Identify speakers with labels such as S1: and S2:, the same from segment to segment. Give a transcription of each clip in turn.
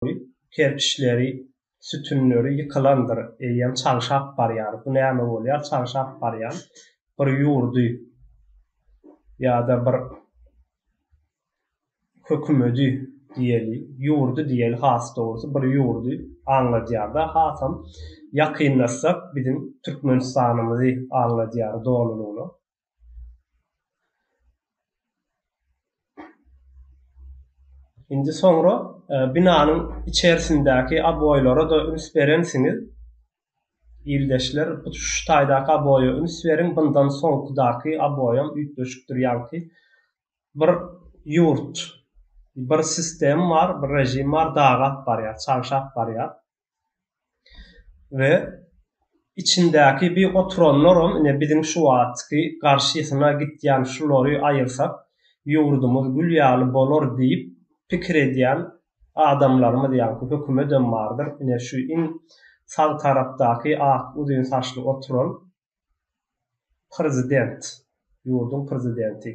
S1: Goý, kerpiçleri, sütünleri ýykylandyr, eýýäm çalşap barýar. Bu näme bolýar? Çalşap barýar. Bir ýurdy ýa-da bir hökümedi diýeli, ýurdy diýeli has dogrusy, bir ýurdy aňladýar-da, hasam ýakynlaşsak biziň Türkmenistanymyzy aňladýar dolulygyna. Indi soňra e, binanyň içerisindäki aboýlara da üns berensiňiz. Ildeşler, şu taýdaky aboýa üns beriň, bundan soňkudaky aboýam üýtgeşikdir ýaňky. Bir ýurt, bir sistem bar, bir režim bar, dagy alyp barýar, çagşap barýar. we içindäki bi oturanlaram ine biziň şu wagtky garşysyna gitýän şulary aýyrsak ýurdumyz gül ýaly bolar diýip pikir edýän adamlarymyz ýaňky hökümedem bardyr ine şu iň sag tarapdaky ak uzyn saçly oturan Prezident, ýurduň prezidenti,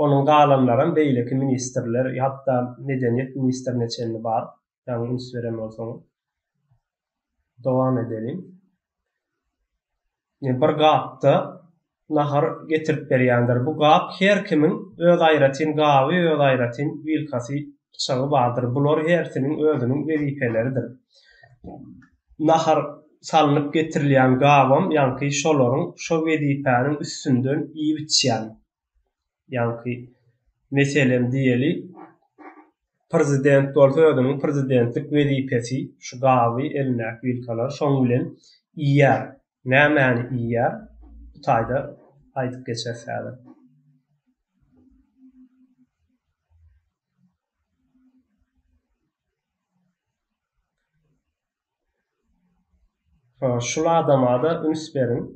S1: onuň galanlaram beýleki ministrler, hatda medeniýet ministrine çenli bar, ýaňy üns beren bolsaňyz. Dowam edeliň. Bir gapda nahar getirip berýändir. Bu gap her kimiň öz aýratyn gaby, öz aýratyn wilkasy, pyçagy bardyr. Bular hersiniň özüniň wezipeleridir. nahar salnyp getirilýän gabam ýaňky şolaryň şo wezipäniň üstünden iýip-içýän. Ýaňky, meselem diýeli, prezident bolsa özüniň prezidentlik wezipesi şu gaby, elindäki wilkalary şoň bilen iýýär. Nämäni iýýär? Bu taýda aýdyp geçeris häzir. Şul adama-da üns beriň.